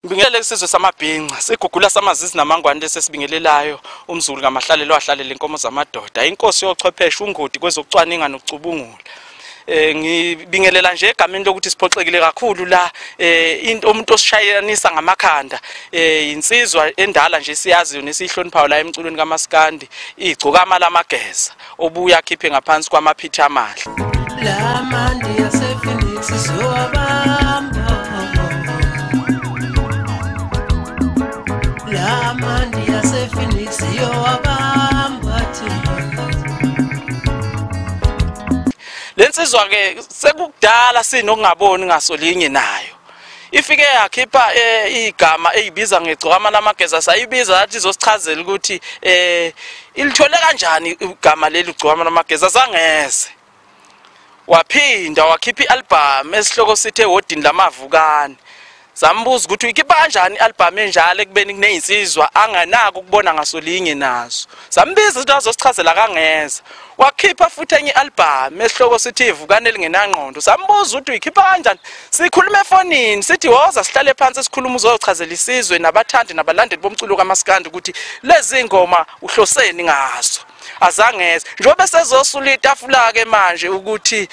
Ngibingelele isizwe samabhinca sigugula samazizi namangwane lesi esibingelelayo umzulu ngamahlalelo ahlalele inkomo zamadoda inkosi yochwepheshe ungodi kwezokucwaninga nokucubungula eh ngibingelela nje egameni lokuthi siphoxekile kakhulu la eh into umuntu osishayelanisa ngamakhanda eh insizwa endala nje siyaziyo nesihloniphayo la emculweni kaMaskandi igcokama lamageza obuya khiphe ngaphansi kwamaphithi amahle lamandi yasephoenix sowabamba lamandi yasephoenix yowabamba le nsizwa-ke sekukudala sinokungaboni ngaso linye nayo ifike yakhipha eh, igama eyibiza ngegcokama lamageza sayibiza yathi izosichazela ukuthi eh ilithole kanjani igama leli gcokama lamageza sangeze waphinda wakhipha ialbum esihloko sithe wodini lamavukane sambuza ukuthi uyikhipha kanjani ialbum enjalo ekubeni kuneyinsizwa anganaki ukubona ngasolinye nazo sambiza ukuthi azosichazela akangeza wakhipha futhi enye i-albhamu esihloko sithi ivukane elingenangqondo sambuza ukuthi uyikhipha kanjani sikhuluma efonini sithi woza sihlale phansi sikhuluma uzochazela isizwe nabathandi nabalandeli bomculo kamasikandi ukuthi lezi ngoma uhloseni ngazo azangeze njengoba sezosulita afula-ke manje ukuthi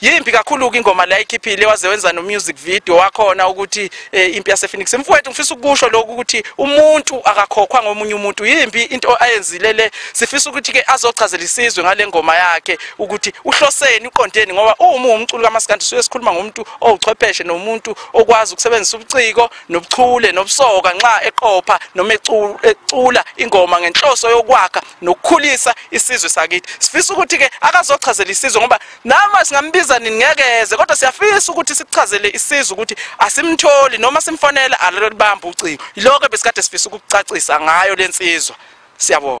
yimbi kakhulu-ke ingoma la ikhiphile waze wenza no-music video wakhona ukuthi eh, impi yasephoenix mfowethu ngifisa ukusho lokhu ukuthi umuntu akakhokhwa ngomunye umuntu yimbi into ayenzile le sifisa ukuthi-ke azochazela isizwe ngale ngoma yakhe ukuthi uhloseni uqondeni ngoba uma uwumculi kamasikandi suke sikhuluma ngomuntu owuchwepheshe nomuntu okwazi ukusebenzisa ubuciko nobuchule nobusoka nxa eqopha noma ecula ingoma ngenhloso yokwakha nokukhulisa isizwe sakithi sifisa ukuthi ke akazochazela isizwe ngoba nama singambiza nini ngekeze kodwa siyafisa ukuthi sichazele isizwe ukuthi asimtholi noma simfonela alolibamba ucingo yiloko besikade sifisa ukucacisa ngayo lensizwa siyabona